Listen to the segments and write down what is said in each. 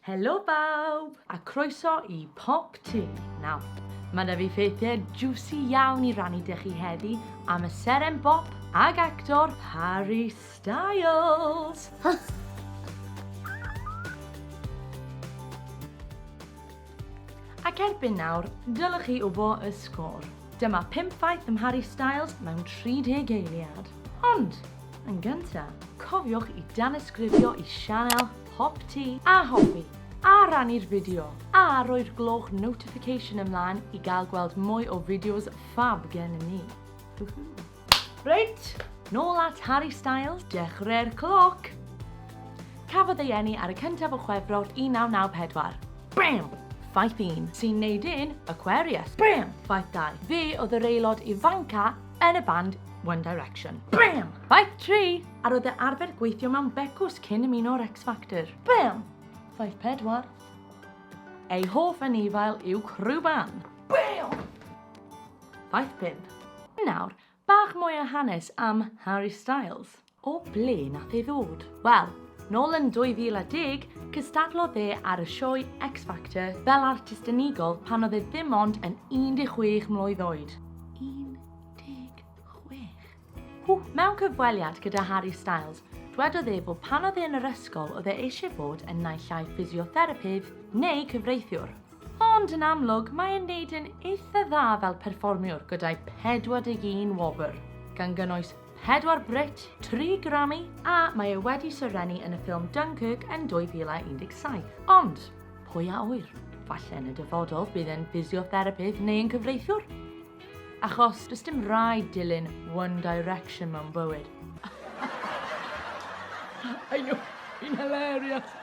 Helo bawb, a croeso i Pop Tŷ. Nawr, mae 'da fi ffeithiau jiwsi iawn i rannu 'da chi heddi am y seren bop ag actor Harry Styles! Ac erbyn nawr, dylech chi wybod y sgôr. Dyma pump ffaith am Harry Styles mewn 30 eiliad. Ond, yn gyntaf, cofiwch i danysgrifio i sianel Pop ti a hoffi, a rannu'r fideo, a rhoi'r gloch notification ymlaen i gael gweld mwy o fideos ffab gen ni. Reit, nôl at Harry Styles, dechreu'r cloc! Cafodd ei eni ar y cyntaf o Chwefror 1994. Bam! Ffaith 1, sy'n neud yn Aquarius. Bam! Ffaith 2, fe oedd yr aelod ifanca yn y band One Direction. Bam! Ffaith 3, A roedd e arfer gweithio mewn becws cyn ymuno ar X Factor. Bam! Ffaith pedwar. Ei hoff anifail yw crwban. Bam! Ffaith pump. Nawr, bach mwy o hanes am Harry Styles. O ble nath ei ddod? Wel, nôl yn 2010, cystadlodd e ar y sioe X Factor fel artist unigol pan oedd e ddim ond yn 16 mlwydd oed. 16? Mewn cyfweliad gyda Harry Styles, dwedodd e bod pan oedd e yn yr ysgol oedd e eisiau bod yn naill ai ffisiotherapydd neu cyfreithiwr. Ond yn amlwg mae e'n neud yn eitha dda fel perfformiwr gyda'i 41 wobr, gan gynnwys pedwar Brit, tri Grammy a mae e wedi serennu yn y ffilm Dunkirk yn 2017. Ond, pwy a ŵyr, falle yn y dyfodol bydd e'n ffisiotherapydd neu yn cyfreithiwr? Achos does dim rhaid dilyn One Direction mewn bywyd. Ayo, fi'n hilarious!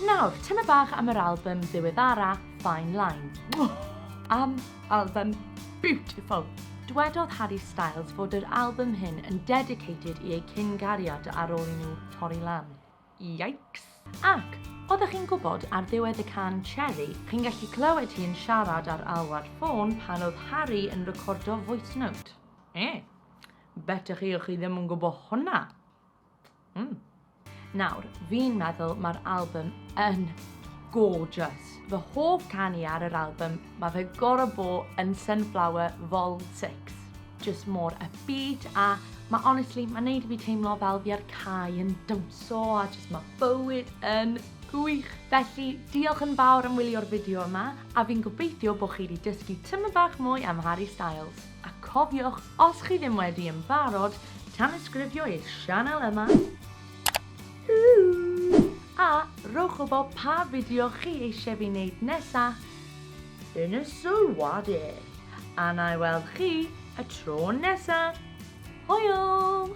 Nawr, tyma bach am yr album ddiweddara Fine Line. Am album beautiful! Dwedodd Harry Styles fod yr album hyn yn dedicated i ei cyn-gariad ar ôl i nhw torri lan. Yikes! Ac, oeddech chi'n gwybod, ar ddiwedd y can Cherry, chi'n gallu clywed hi yn siarad ar alwad ffôn pan oedd Harry yn recordo voice note. Eh, bet chi chi ddim yn gwybod hwnna. Mm. Nawr, fi'n meddwl mae'r album yn gorgeous. Fy hoff canu ar yr album, mae fe gorau bo yn Sunflower Vol 6. just mor upbeat a mae honestly, mae'n neud i fi teimlo fel fi ar cae yn dawnsio a just mae bywyd yn gwych. Felly, diolch yn fawr am wylio'r fideo yma a fi'n gobeithio bod chi wedi dysgu tyma bach mwy am Harry Styles. A cofiwch, os chi ddim wedi yn barod, tanysgrifio i'r sianel yma a rhowch wybod pa fideo chi eisiau fi wneud nesaf. Yn y sylwadir. A na i weld chi y tro nesa. Hwyl!